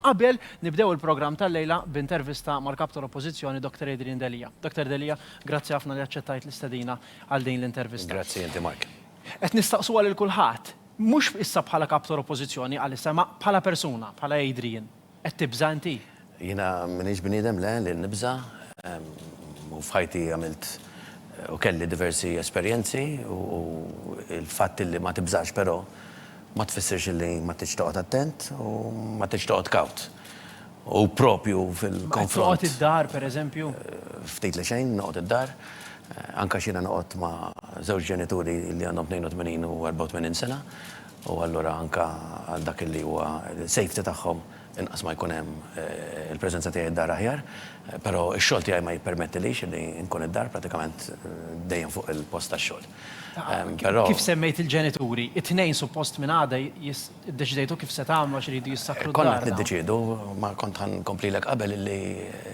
Qabel nibdew il-programm tal-lejla b'intervista mal-Kap tal-Oppożizzjoni Dr. Adrian Delia. Dr. Delia, grazzi ħafna li aċċettajt l-istedina għal din l-intervista. Grazzi inti Mark. Qed nistaqsuha lil kulħadd, mhux issa bħala Kap tal-Oppożizzjoni għalissa imma bħala persuna, bħala Adrian, qed tibża' inti? Jiena m'iniex bniedem, le, li nibża'. U f'ħajti għamilt u kelli diversi esperjenzi u l-fatt li ma tibżax però, ma tfissirx li ma tridx toqgħod attent u ma tridx toqgħod kawt. U proprju fil-konfront. Ma tridx toqgħod id-dar, pereżempju? Ftit li xejn noqgħod id-dar. Anke għax jiena noqgħod ma' żewġ ġenituri li għandhom 82 u 84 sena, u allura anke għal dak li huwa safety tagħhom Inqas ma jkun hemm il-preżenza tiegħi d-dar aħjar, però x-xogħol tiegħi ma jippermettilix li nkun id-dar pratikament dejjem fuq il-post tax-xogħol. Però. Kif semmejt il-ġenituri, it-Tnejn suppost minn għada iddeċidejtu kif se tagħmlu għax iridu jissakru d-dar. Konna qed niddeċiedu, ma kont ħa nkomplilek qabel illi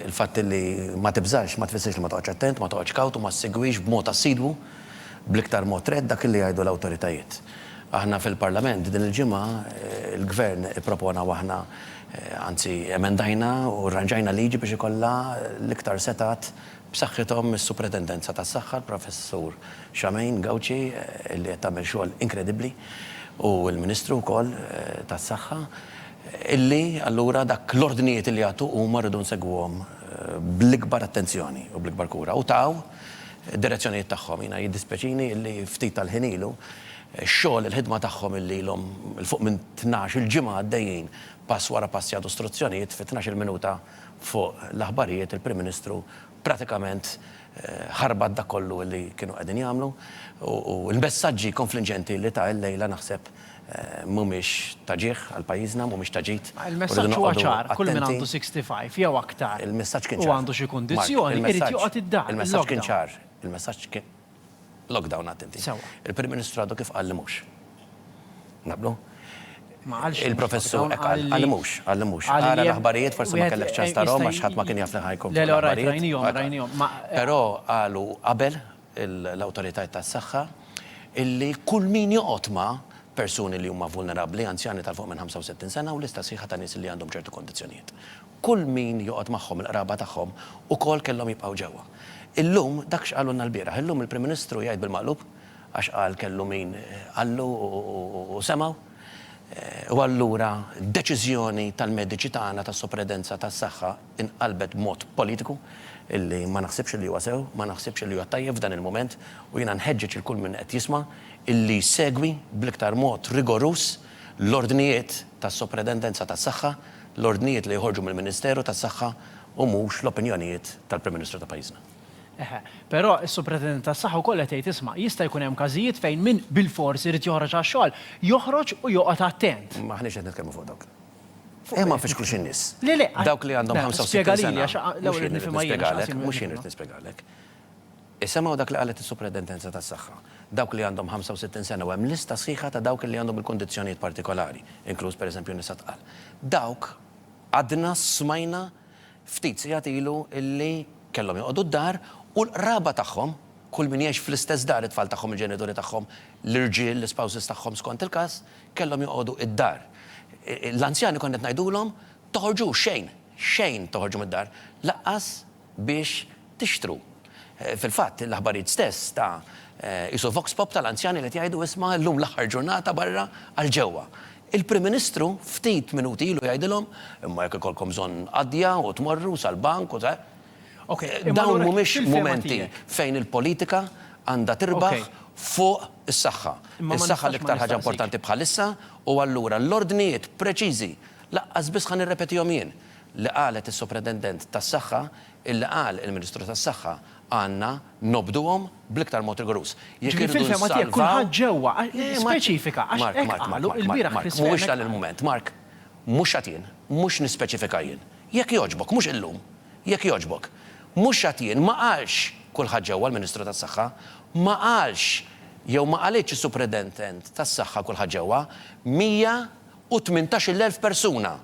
l-fatt illi ma tibżax ma tfissirx li ma toqgħodx attent, ma toqgħodx kawt u ma ssegwix b'mod assidwu. Bl-iktar mod rett dak li jgħidu l-awtoritajiet. Aħna fil-Parlament din il-ġimgħa, il-Gvern ippropona u aħna, anzi emendajna u rranġajna liġi biex ikollha l-iktar setgħat b'saħħithom mis-Supretendenza tas-Saħħa, l-Professur Charmaine Gauci li qed tagħmel xogħol inkredibbli u l-Ministru wkoll tas-Saħħa, illi allura dak l-ordnijiet li jagħtu huma rridu nsegwuhom bl-ikbar attenzjoni u bl-ikbar kura u taw, id-direzzjonijiet tagħhom. Jiena jiddispjaċini illi ftit tal-ħin ilu, x-xogħol, il-ħidma tagħhom illi ilhom 'l fuq minn tnax-il ġimgħa għaddejjin pass wara pass jagħtu struzzjonijiet fi tnax-il minuta fuq l-aħbarijiet il-Prim Ministru pratikament ħarbat dak kollu illi kienu qegħdin jagħmlu u l-messaġġi konflinġenti illi ta illejla naħseb mhumiex ta' ġieħ għal pajjiżna, mhumiex ta' ġid. Il-messaġġ huwa ċar, kull min għandu 65 jew aktar u għandu xi kundizzjoni, irid joqgħod id-dar. Il-messaġġ kien ċar, il-messaġġ kien lockdown attenti. Il-Prim Ministru għadu kif qal li mhux. Naqblu? Ma qalx. Il-Professur hekk qal, qal li mhux, qal li mhux. Ara l-aħbarijiet, forsi ma kellekx ċans tarahom għax ħadd ma kien jaf li ħa jkun fl-aħbarijiet. Le, le, rajthom, rajthom. Però qalu qabel, l-awtoritajiet tas-saħħa illi kull min joqgħod ma' persuni li huma vulnerabbli, anzjani ta' 'l fuq minn 65 sena u lista sħiħa ta' nies li għandhom ċertu kondizzjonijiet. Kull min joqgħod magħhom, il-qraba tagħhom, ukoll kellhom jibqgħu ġewwa. Illum, dak x'qalulna lbieraħ. Illum il-Prim Ministru jgħid bil-maqlub, għax qal kellu min qallu u semgħu. U allura deċiżjoni tal-mediċi tagħna tas-Supridedenza tas-Saħħa, inqalbet b'mod politiku illi ma naħsibx illi huwa sew, ma naħsibx illi huwa tajjeb f'dan il-mument u jiena nħeġġeġ lil kull min qed jisma' illi jsegwi bl-iktar mod rigoruż l-ordnijiet tas-Sopretendenza tas-Saħħa, l-ordnijiet li joħorġu mill-Ministeru tas-Saħħa u mhux l-opinjonijiet tal-Prim Ministru ta' pajjiżna. Eħe, però s-Supretendent tas-Saħħa wkoll qed jgħid isma' jista' jkun hemm każijiet fejn min bilfors irid joħroġ għax-xogħol, joħroġ u joqgħod attent. M'aħniex qed nitkellmu fuq dawk. Ejja ma nfixklux in-nies. Le, le. Dawk li għandhom 65 sena. Spjega lili għax l-ewwel irid nifhimha jien. Mhux jien irid nispjegalek. Isemgħu dak li qalet is-Supradentenza tas-Saħħa. Dawk li għandhom 65 sena u hemm lista sħiħa ta' dawk li għandhom il-kundizzjonijiet partikolari, inkluż pereżempju nisa tqal. Dawk għadna smajna Ftit sigħat ilu illi kellhom joqogħdu d-dar u l-qraba tagħhom, kull min jgħix fl-istess dar, it-tfal tagħhom, il-ġenituri tagħhom, l-irġiel, l-ispouses tagħhom skont il-każ, kellhom joqogħdu d-dar. L-anzjani konna qed ngħidulhom, toħorġux xejn, xejn toħorġu mid-dar, lanqas biex tixtru. Fil-fatt, l-aħbarijiet stess ta' qisu vox pop tal-anzjani li qed jgħidu isma' llum l-aħħar ġurnata barra għal ġewwa. Il-Prim Ministru ftit minuti ilu jgħidilhom, imma jekk ikollkom bżonn qadja u tmorru sal-bank u ta'. Dawn mhumiex mumenti fejn il-politika għandha tirbaħ fuq is-saħħa. Is-saħħa l-iktar ħaġa importanti bħalissa u allura l-ordnijiet preċiżi, lanqas biss ħa nirrepetihom jien, li qalet is-Supretendent tas-Saħħa Illi qal il-Ministru tas-Saħħa, għandna nobduhom bl-iktar mod rigoruż. Jekk irridu nsalvaw. Ġifieri fil-fehma tiegħek kulħadd ġewwa, speċifika għax hekk qalu ilbieraħ fis-smieħ. Mark, Mark, Mark, Mark, mhuwiex dan il-mument. Mark, mhux għad jien, mhux nispeċifika jien. Jekk jogħġbok, mhux illum. Jekk jogħġbok. Mhux għad jien, ma qalx kulħadd ġewwa l-Ministru tas-Saħħa. Ma qalx jew ma qalitx is-Supredendent tas-Saħħa kulħadd ġewwa. 118-il elf persuna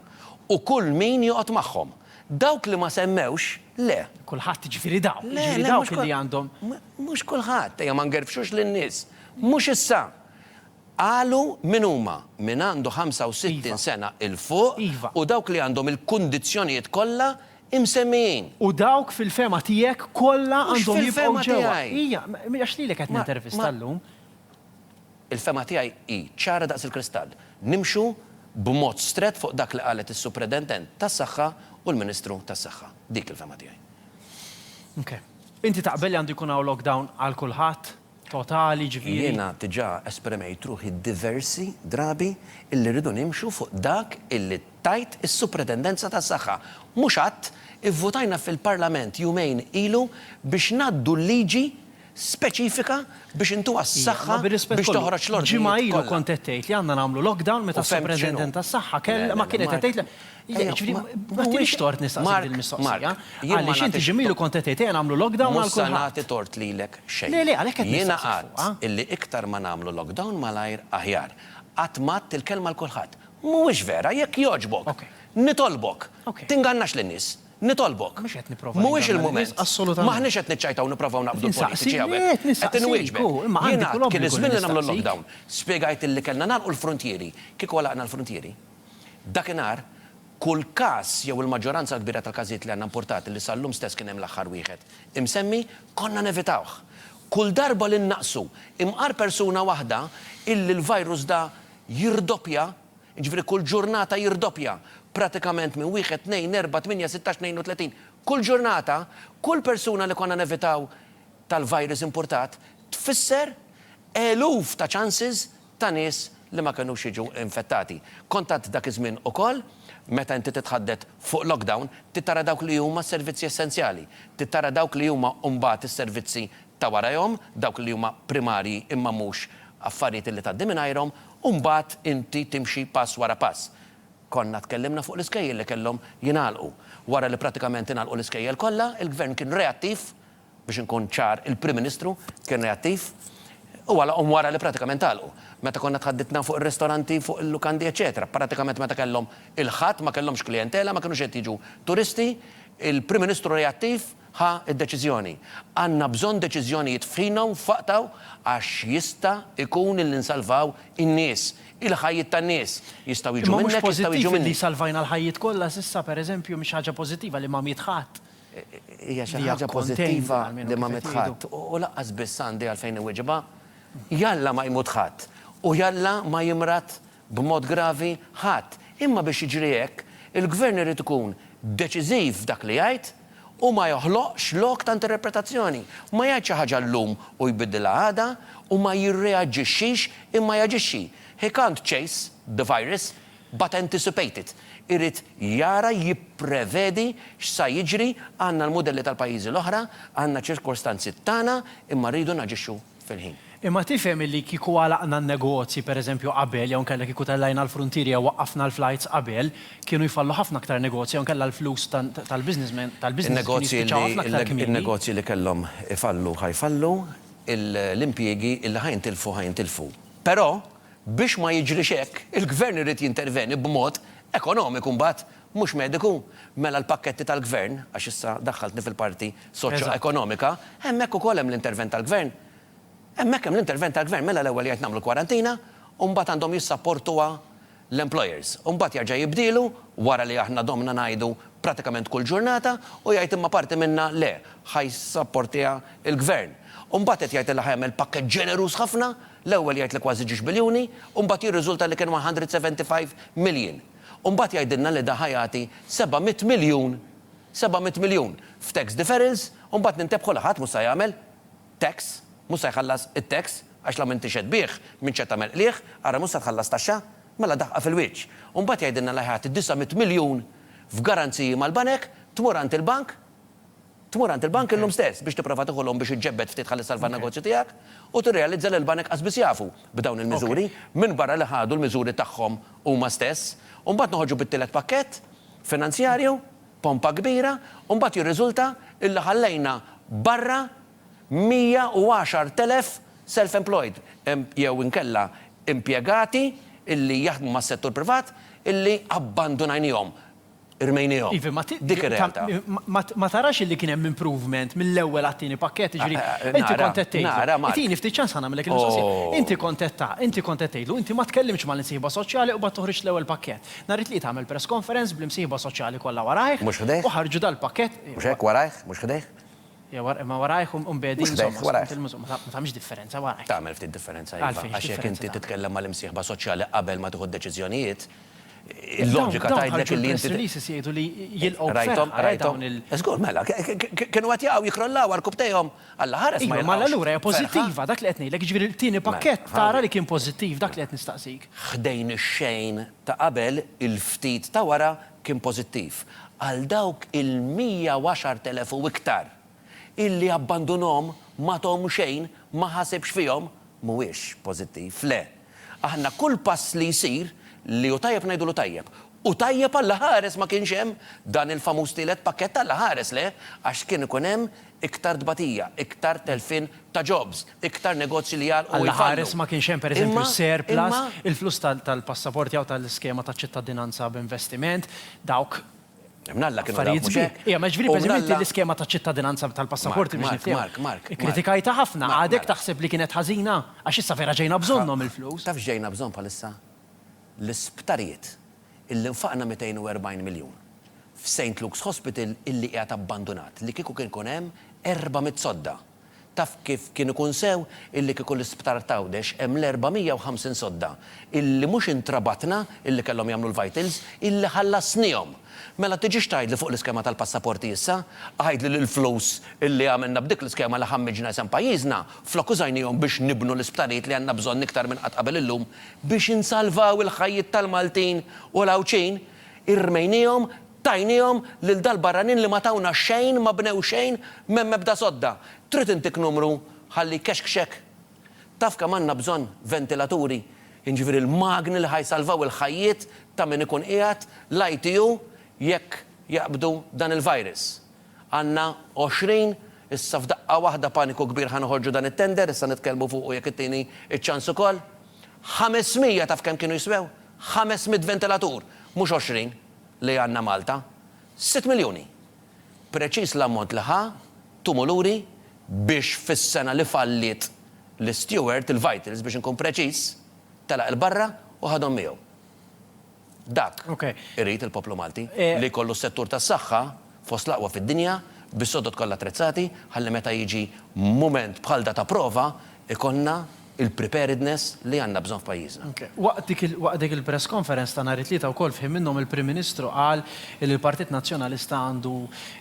u kull min joqgħod magħhom. Dawk li ma semmewx, le. Kulħadd, jiġifieri dawk, Le, jiġifieri le, dawk mhux li kul, għandhom. m, mhux kulħadd, ejja ma ngerfxux lin-nies. Mhux issa. Qalu min huma, min għandu 65 Iva. sena 'l fuq Iva. u dawk li għandhom il-kundizzjonijiet kollha imsemmijin. U dawk fil-fehma tiegħek kollha Mhux għandhom jibqgħu fil-fehma ġewwa. tiegħi. Ija, m, għax lilek qed Ma, ma. nintervista llum. Il-fehma tiegħi hi ċara daqs il-kristall. Nimxu b'mod strett fuq dak li qalet is-Supredentent tas-Saħħa u l-Ministru tas-Saħħa. Dik il-fehma tiegħi. Ok. Inti taqbel li għandu jkun hawn lockdown għal kulħadd, totali, ġifieri. Jiena diġà esprimejt ruħi diversi drabi illi rridu nimxu fuq dak illi tgħid is-Supretendenza tas-Saħħa. Mhux għadd ivvutajna fil-Parlament jumejn ilu biex ngħaddu l-liġi speċifika biex intuha s-saħħa biex toħroġ l-ordnijiet kollha. Nitolbok. Mhuwiex il-mument. M'aħniex qed niċċajtaw nipprovaw naqbdu l-politiċi hawnhekk. Qed inwieġbek. Jien għedt kien iż-żmien li nagħmlu l-lockdown. Spjegajt li kellna nagħlqu l-fruntieri. Kieku għalaqna l-fruntieri, dakinhar kull każ jew il-maġġoranza l-kbira tal-każijiet li għandna impurtati li sal-lum stess kien hemm l-aħħar wieħed imsemmi, konna nevitawh. Kull darba li nnaqqsu imqar persuna waħda illi l-virus da jirdoppja, jiġifieri kull ġurnata jirdoppja, pratikament minn wieħed, tnejn, erbgħa, tmienja, sittax, tnejn u tletin, kull ġurnata, kull persuna li konna nevitaw tal-virus impurtat tfisser eluf ta' chances ta' nies li ma kenux jiġu infettati. Kont għadt dak iż-żmien ukoll, meta inti titħaddet fuq lockdown, trid tara dawk li huma s-servizzi essenzjali, trid tara dawk li huma mbagħad is-servizzi ta' warajhom, dawk li huma primarji imma mhux affarijiet li tgħaddi mingħajrhom, U mbagħad inti timxi pass wara pass. Konna tkellimna fuq l-iskejjel li kellhom jingħalqu. Wara li prattikament ingħalqu l-iskejjel kollha, il-Gvern kien reattiv, biex inkun ċar, il-Prim Ministru kien reattiv, u għalaqhom wara li prattikament għalqu. Meta konna tħaddidna fuq ir-ristoranti, fuq il-lukandi eċċetera, prattikament meta kellhom il-Ħadd ma kellhomx klijentela, ma kinux qed jiġu turisti, il-Prim Ministru reattiv, ħa d-deċiżjoni. Għandna bżonn deċiżjonijiet f'ħinha u f'waqtha għax jista' jkun illi nsalvaw in-nies, il-ħajjiet tan-nies. Jistgħu jiġu minnek, jistgħu jiġu minni. Imma mhux pożittiv illi salvajna l-ħajjiet kollha s'issa, pereżempju, mhix ħaġa pożittiva li ma miet ħadd. Hija xi ħaġa pożittiva li ma miet ħadd u lanqas biss għandi għalfejn inwiġibha. Jalla ma jmut ħadd u jalla ma jimrad b'mod gravi? Ħadd. Imma biex jiġri hekk, il-Gvern irid ikun deċiżiv f'dak li jgħid u ma joħloqx lok ta' interpretazzjoni. Ma jgħid xi ħaġa llum u jbiddilha għada u ma jirreaġixxix imma jaġixxi. He can't chase the virus but anticipate it. Irid jara, jipprevedi x'sa jiġri, għandna l-mudelli tal-pajjiżi l-oħra, għandna ċ-ċirkostanzi tagħna imma rridu naġixxu. fil-ħin. Imma tifhem illi kieku għalaqna n-negozji, per eżempju, qabel, jew inkella kieku tellajna l-fruntieri jew waqqafna l-flights qabel, kienu jfallu ħafna aktar negozji jew inkella l-flus tal-businessmen, tal-businesses kienu jispiċċaw ħafna aktar kmieni. In-negozji li kellhom ifallu ħa jfallu, l-impjiegi li ħa jintilfu ħa jintilfu. Però, biex ma jiġrix hekk, il-Gvern irid jinterveni b'mod ekonomiku mbagħad Mhux mediku? Mela l-pakketti tal-Gvern, għax issa daħħaltni fil-parti soċjoekonomika, hemmhekk ukoll hemm l-intervent tal-Gvern. Hemmhekk hemm l-intervent tal-Gvern, mela l-ewwel jgħid nagħmlu l-kwarantina u mbagħad għandhom jissapportuha l-employers. U mbagħad jerġa' jibdielu wara li aħna domna ngħidu pratikament kull ġurnata u jgħid imma parti minnha le, ħa jissapportiha l-Gvern. U mbagħad qed jgħid li ħa jagħmel pakkett ġeneruż ħafna, l-ewwel jgħid li kważi ġiex biljuni u mbagħad jirriżulta li kien 175 million. U mbagħad jgħidilna li da ħa jagħti seba' mitt miljun, seba' mitt miljun, f'tax deferrals u mbagħad nintebħu li ħadd mhux sa jagħmel tax, mhux sa jħallas it-tax għax la m'inti x'qed tbigħ, min x'qed tagħmel qligħ, ara mhux sa tħallas taxxa. Mela daħqa fil-wiċċ. U mbagħad jgħidilna li ħa jagħti disa' mitt miljun f'garanziji mal-banek, tmur għand il-bank, Tmur għand il-bank illum stess biex tipprova tieħu loan biex iġġebbed ftit ħalli ssalva n-negozju tiegħek u tirrealizza li l-banek qasbiss jafu b'dawn il-miżuri minbarra li ħadu l-miżuri tagħhom huma stess u mbagħad noħorġu bit-tielet pakkett finanzjarju pompa kbira u mbagħad jirriżulta illi ħallejna barra 110,000 self employed jew inkella impjegati illi jaħdmu mas-settur privat illi abbandunajniehom Rmejniehom. Iva, ma ti- Dik ir-realtà. ma- ma tarax illi kien hemm improvement mill-ewwel għat-tieni pakkett, jiġri, Eh, eh, inti nara, kont qed tgħidlu. nara, Mark. Itini ftit ċans ħa nagħmellek il-mistoqsija. Oh. Inti kont qed ta, inti kont qed tgħidlu, inti ma tkellimtx mal-imsieħba soċjali u mbagħad toħriġt l-ewwel pakkett. Nhar it-Tlieta għamel press conference bl-imsieħba soċjali kollha warajh. Mhux ħdejh? U ħarġu dal-pakkett. Mhux hekk, warajh, mhux ħdejh? Ja, wara, imma warajh u mbagħad Mhux insomma, ħdejh, warajh. skont il-muż- ma ta- ma tagħmilx differenza warajh. Tagħmel ftit differenza, iva. Għalfejn, Għax jekk x'differenza inti tagħmel? titkellem mal-imsieħba soċjali qabel ma tieħu d-deċiżjonijiet, Il-loġika tgħidlek li inti. Dawn ħarġu jgħidu li jilqgħu b'ferħ għal dawn il. Żgur mela, kienu qed jaqgħu jikrollaw għal rkubtejhom. Alla ħares ma jilqgħux. Mela allura hija pożittiva, dak li qed ngħidlek, jiġifieri t-tieni pakkett tara li kien pożittiv, dak li qed nistaqsik. Ħdejn ix-xejn ta' qabel, il-ftit ta' wara kien pożittiv. Għal dawk il-110,000 u iktar illi abbandunhom, m'għathom xejn, ma ħasibx fihom, mhuwiex pożittiv, le. Aħna kull pass li jsir li hu tajjeb ngħidulu tajjeb. U tajjeb Alla ħares ma kienx hemm dan il-famuż tielet pakkett Alla ħares le għax kien ikun hemm iktar tbatija, iktar telfien ta' jobs, iktar negozji li jagħlqu u jfallu. Alla ħares ma kienx hemm per eżempju surplus, il-flus tal-passaporti jew tal-iskema taċ-ċittadinanza b'investiment, dawk Mnalla kienu dawk mhux hekk. Ija, ma ġifieri pereżempju inti l-iskema ta' ċittadinanza tal-passaporti biex nifhimha. Mark, Mark, Mark. Ikkritikajtha ħafna, għadek taħseb li kienet ħażina? Għax issa vera ġejna bżonnhom il-flus. Taf x'ġejna bżonn bħalissa? L-isptarijiet illi nfaqna 240 miljun f'St. Luke's Hospital illi qiegħed abbandunat li kieku kien ikun hemm 400 sodda. Taf kif kien ikun sew illi kieku l-isptar t'Għawdex hemm l-450 sodda illi mhux intrabatna illi kellhom jagħmlu l-vitals illi ħallasnihom! Mela tiġix tgħidli fuq l-iskema tal-passaporti issa? Għidli li l-flus illi għamilna b'dik l-iskema li ħammiġna isem pajjiżna, flok użajnihom biex nibnu l-isptarijiet li għandna bżonn iktar minn qatt qabel illum biex insalvaw il-ħajjiet tal-Maltin u l-Għawdxin, irmejnihom Tajniehom lil dal-barranin li ma tawna xejn, ma bnew xejn, m'hemm ebda sodda. Trid intik numru ħalli jkexkxek? Taf kemm għandna bżonn ventilaturi, jiġifieri l-magni li ħa jsalvaw il-ħajjiet ta' min ikun qiegħed l-ITU jekk jaqbdu dan il-virus? Għandna għoxrin, issa f'daqqa waħda paniku kbir ħa noħorġu dan it-tender, issa nitkellmu fuqu jekk ittini ċ-ċans ukoll. Ħames mija taf kemm kienu jiswew? Ħames mitt ventilatur, mhux għoxrin. li għandna Malta? Sitt miljuni! Preċiż l-ammont li ħa Tumuluri biex fis-sena li falliet l-Steward, il-Vitals biex inkun preċiż, telaq 'il barra u ħadhom miegħu. Dak irid il-poplu Malti, li jkollu s-settur tas-saħħa, fost l-aqwa fid-dinja, bis-sodod kollha attrezzati, ħalli meta jiġi mument bħal da ta' prova, ikollna il-preparedness li għandna bżonn f'pajjiżna. Waqt dik il-press conference ta' nhar it-Tlieta wkoll f'ħin minnhom il-Prim Ministru qal li l-Partit Nazzjonalista għandu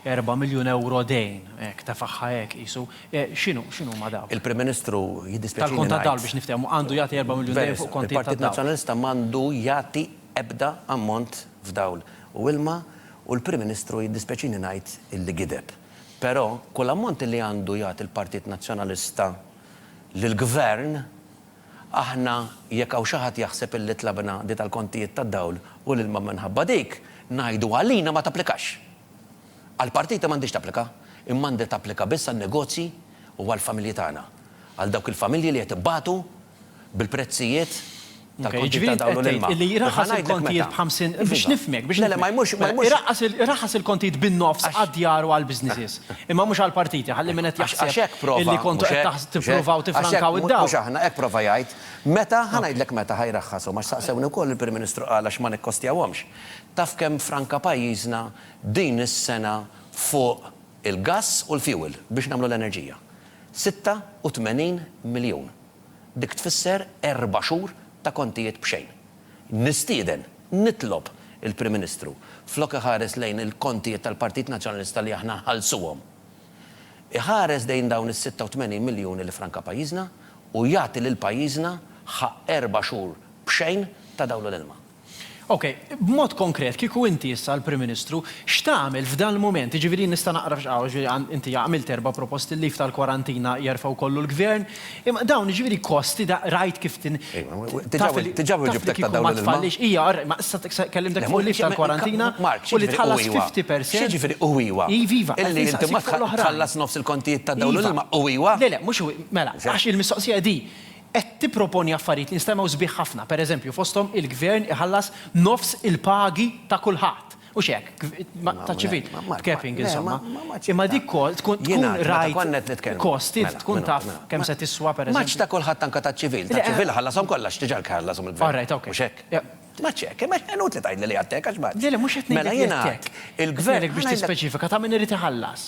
erba' miljun ewro dejn, hekk, tefagħha hekk qisu. X'inhu, x'inhuma dawk? Il-Prim Ministru, jiddispjaċini ngħid. Tal-kont tad-dawl biex niftehmu, għandu jagħti erba' miljun dejn fuq kontijiet tad-dawl. Il-Partit Nazzjonalista m'għandu jagħti ebda ammont f'dawl u ilma u l-Prim Ministru jiddispjaċini ngħid illi gideb. Però kull ammont li għandu jagħti l-Partit Nazzjonalista lill-Gvern, aħna jekk hawn xi ħadd jaħseb illi tlabna di tal-kontijiet tad-dawl u l-ilma minħabba dik, ngħidu għalina ma tapplikax. Għall-partiti m'għandhiex tapplika, imma għandha tapplika biss għan-negozji u għall-familji tagħna. Għal dawk il-familji li qed ibatu bil-prezzijiet. tal-kontijiet ta' dawl u l-ilma. Jiġifieri int qed tgħid li jraħħas il-kontijiet b'50 biex nifhmek, biex nifhmek. Le, le, ma jmurx. Iraħħas il-kontijiet bin-nofs għad-djar u għall-businesses, imma mhux għall-partiti, ħalli min qed jaħseb. Għax hekk prova. Illi kontu qed tippruvaw tiffrankaw id-dawl. Mhux aħna, hekk prova jgħid. Meta, ħa ngħidlek meta ħa jraħħashom, għax saqsewni wkoll il-Prim Ministru qal għax ma nikkostjawhomx. Taf kemm ffranka pajjiżna din is-sena fuq il-gass u l-fuel biex nagħmlu l-enerġija? 86 miljun. Dik tfisser erba' xhur ta' kontijiet b'xejn. Nistieden, nitlob, il-Prim Ministru, flok iħares lejn il-kontijiet tal-Partit Nazzjonalista li aħna nħallsuhom, iħares lejn dawn is-86 miljun li franka pajjiżna u jagħti lil pajjiżna ħaqq erba' xhur b'xejn ta' dawl u l-ilma. Ok, b'mod konkret, kieku inti issa l-Prim Ministru, x'tagħmel f'dan il-mument? Jiġifieri jien nista' naqra f'xi hawn, jiġifieri inti għamilt erba' proposti, il-leave tal-kwarantina jerfgħu kollu l-Gvern, imma dawn jiġifieri kosti, rajt kif tin. Taf li kieku ma tfallix, ija, ma issa kellimtek fuq il-leave tal-kwarantina u li tħallas 50 percent. X'jiġifieri u ija? Iva, iva. Illi inti ma tħallas nofs il-kontijiet tad-dawl u l-ilma u ija? Le, le, mhux u ija. Mela, għax il-mistoqsija hi di, qed tipproponi affarijiet li nstemmgħu sbieħ ħafna, pereżempju, fosthom il-Gvern iħallas nofs il-pagi ta' kulħadd. Hux hekk? Taċ-ċivil, b'capping, insomma. Imma dik kol tkun tkun rajt kost, int tkun taf kemm se tiswa, pereżempju. M'għadx ta' kulħadd anke taċ-ċivil. Taċ-ċivil iħallashom kollha għax diġà ħallashom il-Gvern. All right, ok. Mhux hekk? M'għadx hekk. Imma inutli tgħidli li għad hekk għax m'għadx. Le, le, mhux qed ngħidlek li għad hekk. Mela jien għad il-Gvern. Qed ngħidlek biex tispeċifika ta' min irid iħallas.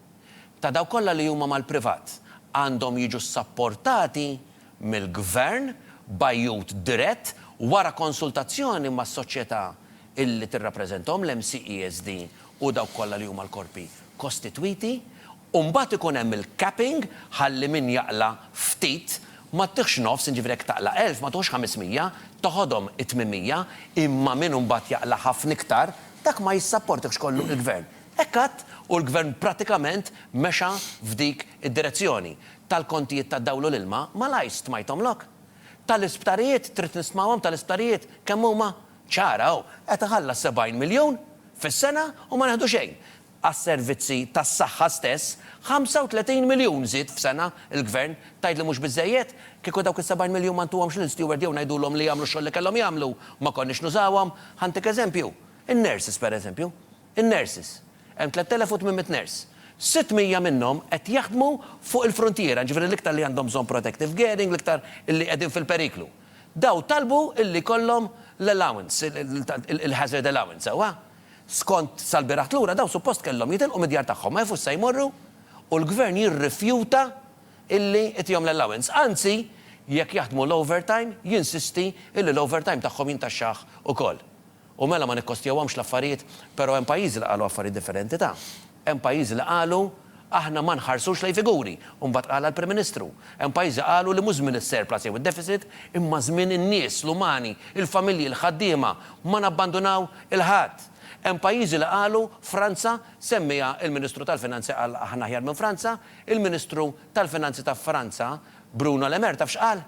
ta' dawk kollha li huma mal-privat għandhom jiġu ssapportati mill-gvern b'għajjut dirett wara konsultazzjoni mas-soċjetà li tirrappreżentahom, l-MCESD u dawk kollha li huma l-korpi kostitwiti, u mbagħad ikun hemm il-capping ħalli min jaqla' ftit ma ttiħx nofs, jiġifieri jekk taqla' elf ma tiħux 500, toħodhom it-800, imma min imbagħad jaqla' ħafna iktar dak ma jissapportihx kollu l-gvern. Hekk għidt u l-Gvern prattikament mexa f'dik id-direzzjoni. Tal-kontijiet tad-dawl u l-ilma, malajr stmajthom lok. Tal-isptarijiet, trid nistmawhom tal-isptarijiet, kemm huma? Ċara hu, qed iħallas 70 miljun fis-sena u ma neħdu xejn. Għas-servizzi tas-saħħa stess, 35 miljun żied f'sena l-Gvern. Tgħid li mhux biżżejjed? Kieku dawk is-70 miljun ma ntuhomx lill-steward jew ngħidulhom li jagħmlu x-xogħol li kellhom jagħmlu, ma konniex nużawhom. Ħa ntik eżempju, in-nurses pereżempju. In-nurses. Hemm 3,800 nurse. 600 minnhom qed jaħdmu fuq il-fruntiera, jiġifieri l-iktar li għandhom bżonn protective gearing, l-iktar li qegħdin fil-periklu. Dawn talbu li jkollhom l-allowance, il-hazard allowance, sewwa? Skont sal-bieraħt lura dawn suppost kellhom jitilqu mid-djar tagħhom, ma jafux se jmorru u l-Gvern jirrifjuta li jtihom l-allowance. Anzi, jekk jaħdmu l-overtime, jinsisti li l-overtime tagħhom jintaxxah ukoll. U mela ma nikkostjawhomx l-affarijiet, però hemm pajjiżi li qalu affarijiet differenti ta'. Hemm pajjiżi li qalu aħna ma nħarsux lejn figuri, u mbagħad qalha l-Prim Ministru. Hemm pajjiżi qalu li mhux żmien is-surplus jew id-deficit, imma żmien in-nies, l-umani, il-familji, l-ħaddiema, ma nabbandunaw il-ħadd. Hemm pajjiżi li qalu, Franza, semmiha l-Ministru tal-Finanzi qal aħna aħjar minn Franza, il-Ministru tal-Finanzi ta' Franza, Bruno Le Maire taf x'qal?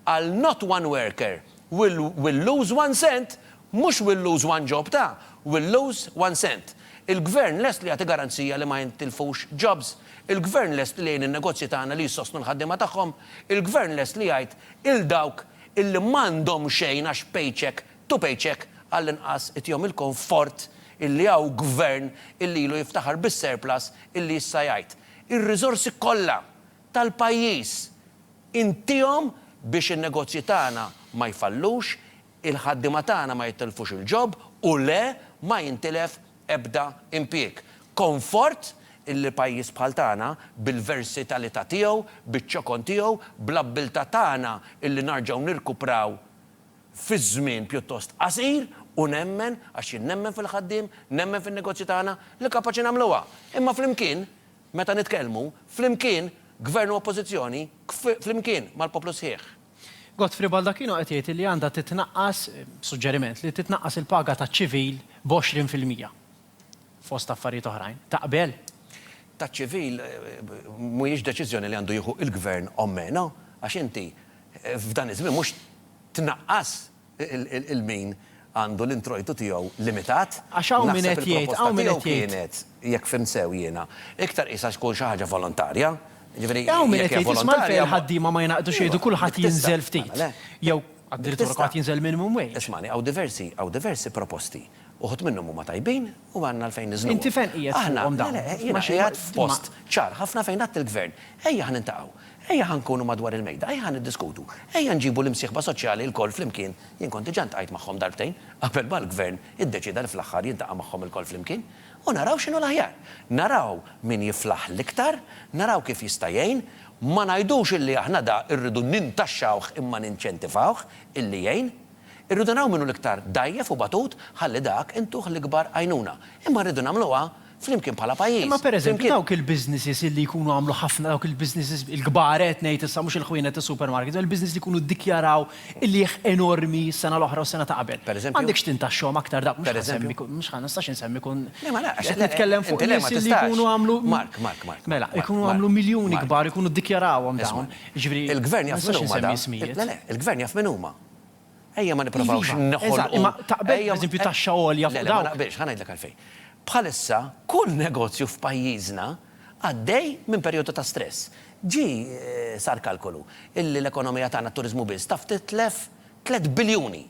għal not one worker will will lose one cent, mhux will lose one job ta' will lose one cent. Il-Gvern lest li jagħti garanzija li ma jintilfux jobs. Il-Gvern lest li jgħin in-negozji tagħna li jissostnu l-ħaddiema tagħhom. Il-Gvern lest li jgħid 'il dawk illi m'għandhom xejn għax paycheck to paycheck għall-inqas itihom il-konfort illi hawn Gvern illi ilu jiftaħar bis-surplus illi issa jgħid ir-riżorsi kollha tal-pajjiż Intiehom biex in-negozji tagħna ma jfallux, il-ħaddiema tagħna ma jitilfux il-ġob u le ma jintilef ebda impjieg. Konfort illi pajjiż bħal tagħna, bil-versitalità tiegħu, biċ-ċokon tiegħu, bl-abbiltà tagħna illi narġgħu nirkupraw fi żmien pjuttost qasir u nemmen, għax jien nemmen fil-ħaddiem, nemmen fin-negozji tagħna, li kapaċi nagħmluha. Imma flimkien Meta nitkellmu, flimkien, Gvern u Oppożizzjoni, kf, flimkien, mal-poplu sħiħ. Godfrey Baldacchino qed jgħid li għandha titnaqqas, suġġeriment, li titnaqqas il-paga taċ-ċivil b'għoxrin fil-mija, fost affarijiet oħrajn. Taqbel? Taċ-ċivil mhijiex deċiżjoni li għandu jieħu il-Gvern ommena, għax inti, f'dan iż-żmien mhux tnaqqas, il-min għandu l-introjtu tiegħu limitat. Għax hawn min qed jgħid, hawn min qed jgħid. Naħseb il-proposta tiegħu kienet, jekk fimt sew jiena, iktar qisha tkun xi ħaġa volontarja, jiġifieri jekk hija volontarja. Hawn min qed jgħid, isma' għalfejn il-ħaddiema ma jingħaqdux jgħidu kulħadd jinżel ftit, jew addirittura kulħadd jinżel minimum wage. Ismagħni, hawn diversi, hawn diversi proposti. Uħud minnhom huma tajbin, u m'għandna għalfejn niżnuha. Inti fejn qiegħed fuqhom dawn? Aħna, le, le, jiena qiegħed f'post ċar ħafna fejn għidt il-Gvern, ejja ħa niltaqgħu, ejja ħa nkunu madwar il-mejda, ejja ħa niddiskutu, ejja nġibu l-imsieħba soċjali lkoll flimkien, jien kont diġà ltqajt magħhom darbtejn qabel ma l-Gvern iddeċieda li fl-aħħar jiltaqa' magħhom ilkoll flimkien, u naraw x'inhu l-aħjar. Naraw min jiflaħ l-iktar, naraw kif jista' jgħin, ma ngħidux illi aħna da rridu nintaxxawh imma ninċentivawh illi jgħin. Irridu naraw min hu l-iktar dgħajjef u batut ħalli dak intuh l-ikbar għajnuna. Imma rridu nagħmluha flimkien bħala pajjiż, flimkien. Dawk il-businesses illi jkunu għamlu ħafna, dawk il-businesses il-kbar qed ngħid issa, mhux il-ħwienet tas-supermarkets, dawk il-businesses li jkunu ddikjaraw il-qiegħ enormi s-sena l-oħra u s-sena ta' qabel. M'għandekx tintaxxahom aktar dawk, mhux ħa nsemmi kull, mhux ħa, ma nistax insemmi kull, qed nitkellem fuq nies illi jkunu għamlu, mela, jkunu għamlu miljuni kbar, jkunu ddikjarawhom dawn, jiġifieri, ma nistax insemmi ismijiet. Le, le, il-Gvern jaf min huma. Ejja ma nipprovawx Iva, neħolqu. eżatt, imma taqbel ejja ma- pereżempju taxxa għolja fuq Le, le, ma dawk? naqbilx, ħa ngħidlek għalfejn. Bħalissa kull negozju f'pajjiżna għaddej minn perjodu ta' stress. Ġie sar kalkolu illi l-ekonomija tagħna t-turiżmu biss taf titlef tliet biljuni.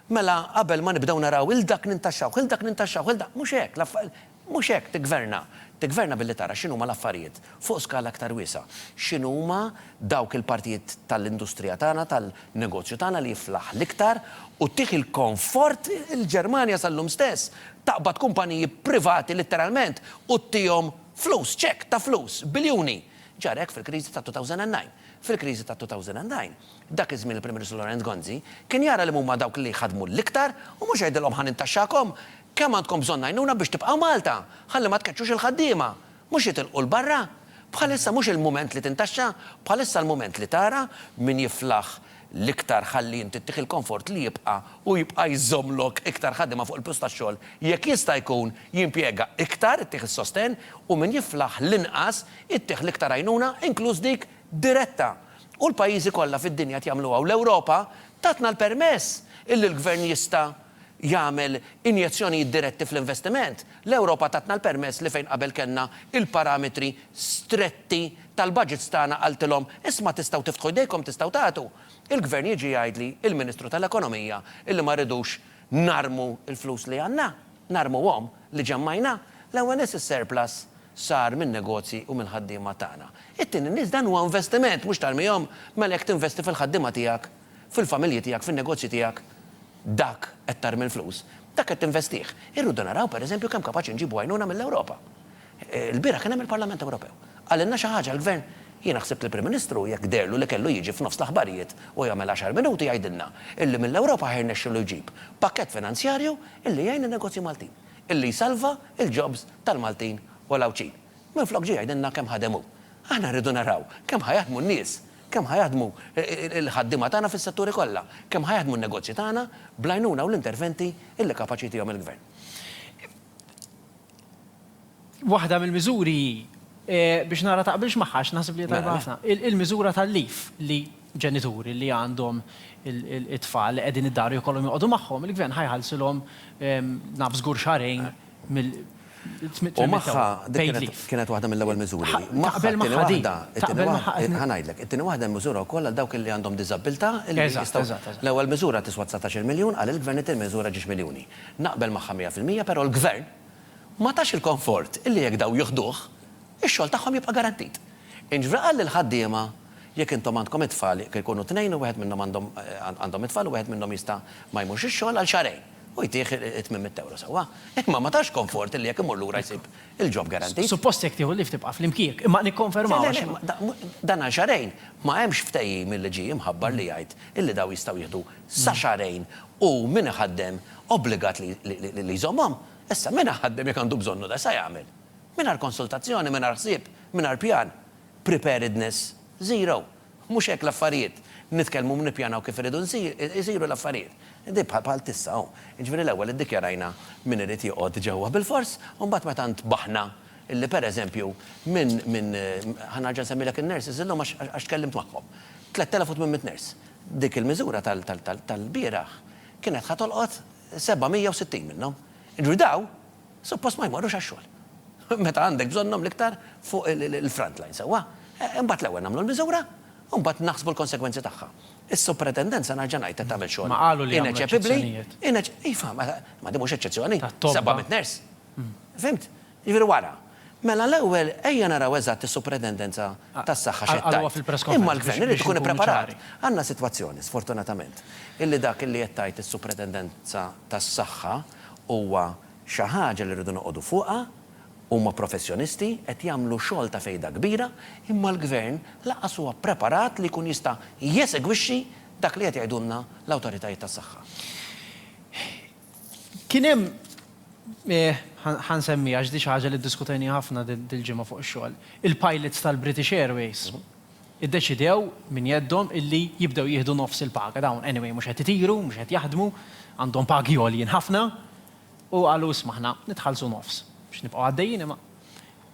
Mela qabel ma nibdew naraw 'il dak nintaxxawh, 'il dak nintaxxawh, 'il dak, mhux hekk, l-affa-. Mhux hekk, tiggverna. Tiggverna billi tara x'inhuma l-affarijiet fuq skala aktar wiesgħa. X'inhuma dawk il-partijiet tal-industrija tagħna, tal-negozju tagħna li jiflaħ l-iktar u ttih il-konfort il-Ġermanja sal-lum stess taqbad kumpaniji privati litteralment u ttihom flus, ċekk ta' flus, biljuni. Ġara hekk fil-kriżi tat-2009. Fil-kriżi tat-2009, dak iż-żmien il-Prim Ministru Lorenz Gonzi kien jara liema huma dawk li jħaddmu l-iktar u mhux jgħidilhom ħa nintaxxakom Kemm għandkom bżonn għajnuna biex tibqgħu Malta? Ħalli ma tkeċċux il-ħaddiema! Mhux jitilqu 'l barra? Bħalissa mhux il-mument li tintaxxa, bħalissa l-mument li tara min jiflaħ l-iktar ħalli inti ttih il-konfort li jibqa' u jibqa' jżommlok iktar ħaddiema fuq il-post tax-xogħol, jekk jista' jkun jimpjega iktar ittih is-sostenn u min jiflaħ l-inqas ittih l-iktar għajnuna inkluż dik diretta. U l-pajjiżi kollha fid-dinja qed jagħmluha u l-Ewropa tatna l-permess illi l-Gvern jista' jagħmel injezzjonijiet diretti fl-investiment, l-Ewropa tatna l-permess li fejn qabel kellna l-parametri stretti tal-baġits tagħna qaltilhom, isma' tistgħu tiftħu jdejkom, tistgħu tagħtu, il-Gvern jiġi jgħidli l-Ministru tal-Ekonomija illi ma rridux narmu l-flus li għandna, narmuhom, li ġemmajna. L-ewwel nies is-surplus sar min-negozji u mill-ħaddiema tagħna. It-tieni nies dan huwa investiment, mhux tarmihom, mela jekk tinvesti fil-ħaddiema tiegħek, fil-familji tiegħek, fin-negozji tiegħek, Dak qed tarmi l-flus, dak qed tinvestih. Irridu naraw, per eżempju, kemm kapaċi nġibu għajnuna mill-Ewropa. Ilbieraħ kien hemm il-Parlament Ewropew. Qalilna xi ħaġa l-Gvern? Jiena ħsibt li l-Prim Ministru, jekk deherlu li kellu jiġi f'nofs l-aħbarijiet u jagħmel għaxar minuti jgħidilna illi mill-Ewropa ħa jirnexxilu jġib pakkett finanzjarju illi jgħin lin-negozji Maltin, illi jsalva l-jobs tal-Maltin u l-Għawdxin. Minflok ġie jgħidilna kemm ħadem hu. Aħna rridu naraw kemm ħa jaħdmu n-nies. Kemm ħa jaħdmu l-ħaddiema tagħna fis-setturi kollha? Kemm ħa jaħdmu n-negozji tagħna bl-għajnuna u l-interventi li kapaċi jtihom il-Gvern? Waħda mill-miżuri hi, biex nara taqbilx magħha għax naħseb li hija tajba ħafna, il-miżura tal-leave li ġenituri li għandhom it-tfal li qegħdin id-dar u jkollhom joqogħdu magħhom, il-Gvern ħa jħallsilhom naf żgur xahrejn U magħha, dik kienet waħda mill-ewwel miżuri. Taqbel magħha din? Taqbel magħha din? Ħa ngħidlek, it-tieni waħda hemm miżura wkoll għal dawk li għandhom diżabbiltà li jistgħu. L-ewwel miżura tiswa dsatax-il miljun, qal il-Gvern it-tieni miżura ġiex miljuni. Naqbel magħha mija fil-mija però l-Gvern ma tax il-konfort illi jekk dawn jiħduh, ix-xogħol tagħhom jibqa' garantit. Inġvra qal lill-ħaddiema jekk intom għandkom it-tfal jekk ikunu tnejn u wieħed minnhom għandhom għandhom it-tfal u wieħed minnhom jista' ma jmurx ix-xogħol għal xahrejn. u jtih it-tmiem mit-tewra sewwa, imma ma tax konfort li jekk imur lura jsib il-job guaranteed. Suppost jekk tieħu leave tibqa' fl-impjieg, imma nikkonfermaw għax. Le, le, le, dan għal xahrejn, ma hemmx ftehim illi ġie imħabbar li jgħid illi dawn jistgħu jieħdu sa xahrejn u min iħaddem obbligat li jżommhom. Issa, min iħaddem jekk għandu bżonnu da sa jagħmel? Mingħajr konsultazzjoni, mingħajr ħsieb, mingħajr pjan. Preparedness zero. Mhux hekk l-affarijiet. Nitkellmu u nippjanaw kif iridu jsiru l-affarijiet. Di bħal t'issa hu. Jiġifieri l-ewwel iddikjarajna min irid joqgħod ġewwa bil-fors u mbagħad meta ntbaħna li pereżempju minn, minn, ħa nerġa' nsemmilek in-nurses illum għax, għax tkellimt magħhom. 3,800 nurse. Dik il-miżura tal, tal, tal, tal-bieraħ kienet ħa tolqot 760 minnhom. Jiġifieri dawn. Suppost ma jmorrux għax-xogħol. Meta għandek bżonnhom l-iktar fuq il-front line, sewwa? Imbagħad l-ewwel nagħmlu l-miżura u mbagħad naħsbu l-konsegwenzi tagħha. Is-Supretendent, se nerġa' ngħid, qed tagħmel xogħol ineċepibbli, ineċ. Iva, ma din mhux eċċezzjoni, sebgħa mitt nurse. Fhimt? Jiġifieri wara. Mela l-ewwel ejja naraw eżatt is-Supretendenza tas-Saħħa x'qed tgħid. Imma l-Gvern irid ikun ippreparat. Għandna sitwazzjoni, sfortunatament, illi dak illi qed tgħid is-Supretendenza tas-Saħħa, Huwa xi ħaġa li rridu noqogħdu fuqha, huma professjonisti, qed jagħmlu xogħol ta' fejda kbira, imma l-Gvern lanqas huwa ppreparat li jkun jista' jesegwixxi dak li qed jgħidulna l-awtoritajiet tas-saħħa. Kien hemm, ħa nsemmi għax din xi ħaġa li ddiskutejniha ħafna dil-ġimgħa fuq ix-xogħol, il-pilots tal-British Airways. Iddeċidew minn jeddhom illi jibdew jieħdu nofs il-paga. Dawn anyway mhux qed itiru, mhux qed jaħdmu, għandhom pagi għoljin ħafna u qalu isma' aħna nitħallsu nofs biex nibqgħu għaddejjin imma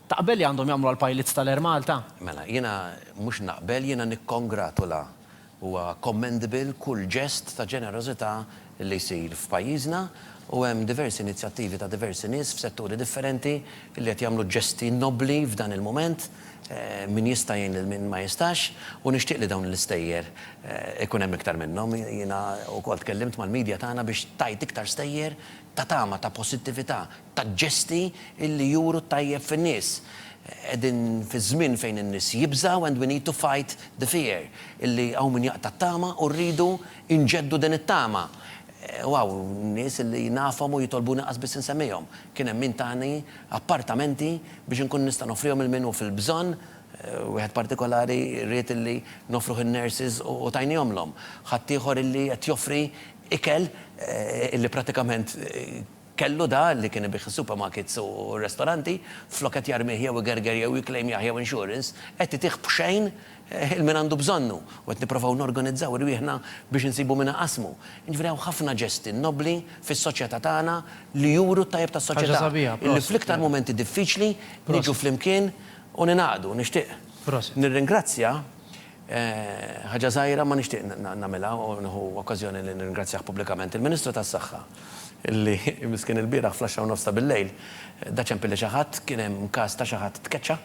taqbel li għandhom jagħmluha l-pilots tal-Air Malta? Mela, jiena mhux naqbel, jiena nikkongratula Huwa commendable kull ġest ta' ġenerożità li jsir f'pajjiżna u hemm diversi inizjattivi ta' diversi nies f'setturi differenti li qed jagħmlu ġesti nobbli f'dan il-mument. Min jista' jgħin lil min ma jistax u nixtieq li dawn l-istejjer ikun hemm iktar minnhom. Jiena wkoll tkellimt mal-media tagħna biex tgħid iktar stejjer ta' tama, ta' possittività, ta' ġesti li juru t-tajjeb fin-nies. Qegħdin fi żmien fejn in-nies jibżgħu and we need to fight the fear illi hawn min jaqta' t-tama u rridu nġeddu din it-tama. U hawn nies illi nafhom u jitolbuni qas biss insemmihom. Kien hemm min tani appartamenti biex inkun nista' noffrihom lil min hu fil-bżonn, wieħed partikolari ried illi noffruh in-nurses u tajniehomlhom. Ħaddieħor illi qed joffri ikel illi prattikament Kellu da li kien ibigħ is-supermarkets u r-restoranti, flok qed jarmih jew igerger jew jiklejmjah jew insurance, qed itih b'xejn il min għandu bżonnu u qed nipprovaw norganizzaw irwieħna biex insibu min iqassmu. Jiġifieri hawn ħafna ġesti nobbli fis-soċjetà tagħna li juru t-tajjeb tas-soċjetà, illi fl-iktar mumenti diffiċli niġu flimkien u ningħaqdu. Nixtieq nirringrazzja Ħaġa żgħira ma nixtieq nagħmilha u nieħu okkażjoni li nirringrazzjah pubblikament. Il-Ministru tas-Saħħa li miskien ilbieraħ fl-għaxra u nofs ta' billejl da ċempi li xi ħadd, kien hemm każ ta' xi ħadd tkeċċa,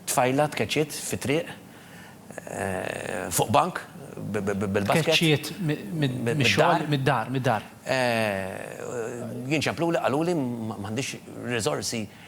tfajla tkeċċiet fit-triq fuq bank bil-basket. Tkeċċiet mix-xogħol, mid-dar, mid-dar. Jien ċempluli, qaluli m'għandix riżorsi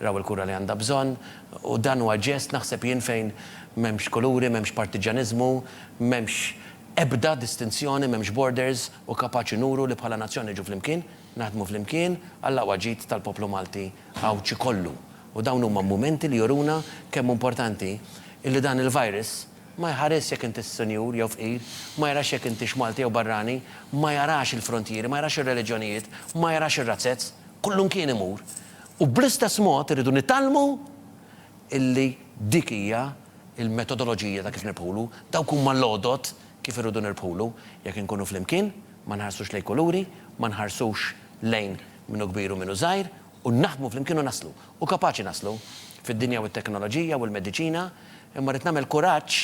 raw il-kura li għandha bżonn u dan huwa ġest naħseb jien fejn m'hemmx kuluri, m'hemmx partiġġaniżmu, m'hemmx ebda distinzjoni, m'hemmx borders u kapaċi nuru li bħala nazzjon niġu flimkien, naħdmu flimkien għall-aqwa ġid tal-poplu Malti Għawdxi kollu. U dawn huma mumenti li juruna kemm hu importanti illi dan il-virus ma jħarisx jekk intix sinjur jew fqir, ma jarax jekk intix Malti jew barrani, ma jarax il-frontieri, ma jarax ir-reliġjonijiet, ma jarax ir-razzez, kullumkien imur U bl-istess mod irridu nitgħallmu illi dik hija l-metodoloġija ta' kif nirbħulu, dawk huma l-għodod kif irridu nirbħulu. Jekk inkunu flimkien, ma nħarsux lejn kuluri, ma nħarsux lejn min hu kbir u min hu żgħir, u naħdmu flimkien u naslu. U kapaċi naslu, fid-dinja u t-teknoloġija u l-mediċina, imma rrid nagħmel kuraġġ,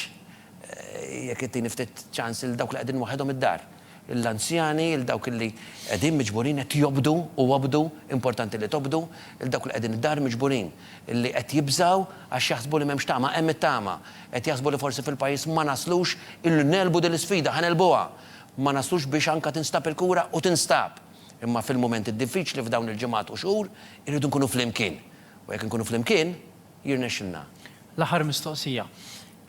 jekk ittini ftit ċans, lil dawk li qegħdin waħedhom id-dar. lill-anzjani, lil dawk li qegħdin miġburin qed jobdu u obdu, importanti li tobdu, lil dawk li qegħdin id-dar miġburin, li qed jibżgħu għax jaħsbu li m'hemmx tama, hemm it-tama, qed jaħsbu li forsi fil-pajjiż ma naslux illi negħlbu din l-isfida, ħa negħlbuha, ma naslux biex anke tinstab il-kura u tinstab, imma fil-mumenti d-diffiċli f'dawn il-ġimgħat u xhur irridu nkunu flimkien u jekk inkunu flimkien jirnexxilna. L-aħħar mistoqsija.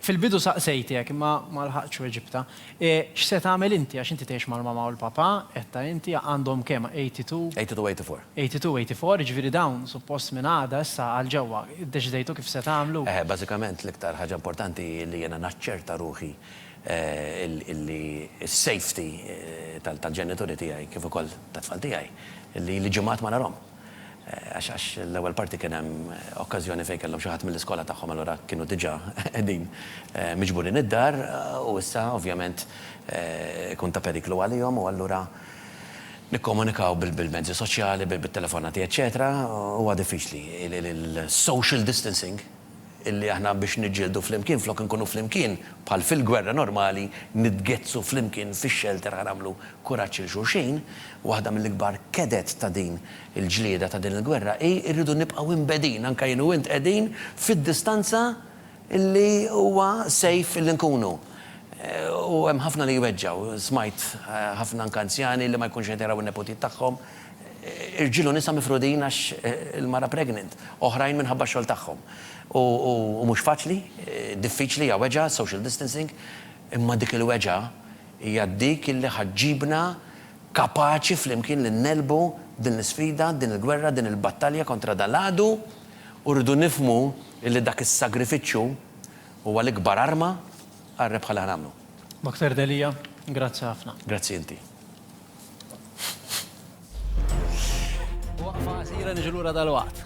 Fil-bidu saqsejtek, imma ma lħaqtx weġibtha. E, x'se tagħmel inti, għax inti tgħix mal-mamà u l-papà, għedtha inti, għandhom kemm, 82? 82, 84. 82, 84, jiġifieri dawn suppost minn għada issa għal ġewwa, iddeċidejtu kif se tagħmlu? Eħe, bażikament l-iktar ħaġa importanti hi li jiena naċċerta ruħi illi s-safety tal-ġenituri tiegħi kif ukoll tat-tfal tiegħi, li li ġimgħat ma narhom. għax l-ewwel parti kien hemm okkażjoni fejn kellhom xi ħadd mill-iskola tagħhom allura kienu diġà qegħdin miġburin id-dar u issa ovvjament ikun ta' periklu għalihom u allura nikkomunikaw bil-mezzi soċjali, bit-telefonati eċċetera huwa diffiċli. Il-social distancing illi aħna biex niġġieldu flimkien flok inkunu flimkien bħal fil-gwerra normali nitgezzsu flimkien fix-xelter ħa nagħmlu kuraġġ 'il xulxin. Waħda mill-ikbar keded ta' din il-ġlieda ta' din il-gwerra hi rridu nibqgħu imbegħdin anke jien u int qegħdin fid-distanza illi huwa safe illi nkunu. U hemm ħafna li jweġġgħu. Smajt ħafna anke anzjani li ma jkunx qed jaraw in-neputijiet tagħhom. Irġiel u nisa mifrudin għax il-mara pregnant, oħrajn minħabba x-xogħol tagħhom. U mhux faċli, diffiċli, hija weġgħa s-social distancing, imma dik il-weġgħa hija dik illi ħa ġġibna kapaċi flimkien li ngħelbu din l-isfida, din il-gwerra, din il-battalja kontra dan l-għadu u rridu nifhmu illi dak is-sagrifiċċju huwa l-ikbar arma għar-rebħa li ħa nagħmlu. Dr. Delia, grazzi ħafna. Grazzi inti. Waqfa qasira niġu lura dalwaqt.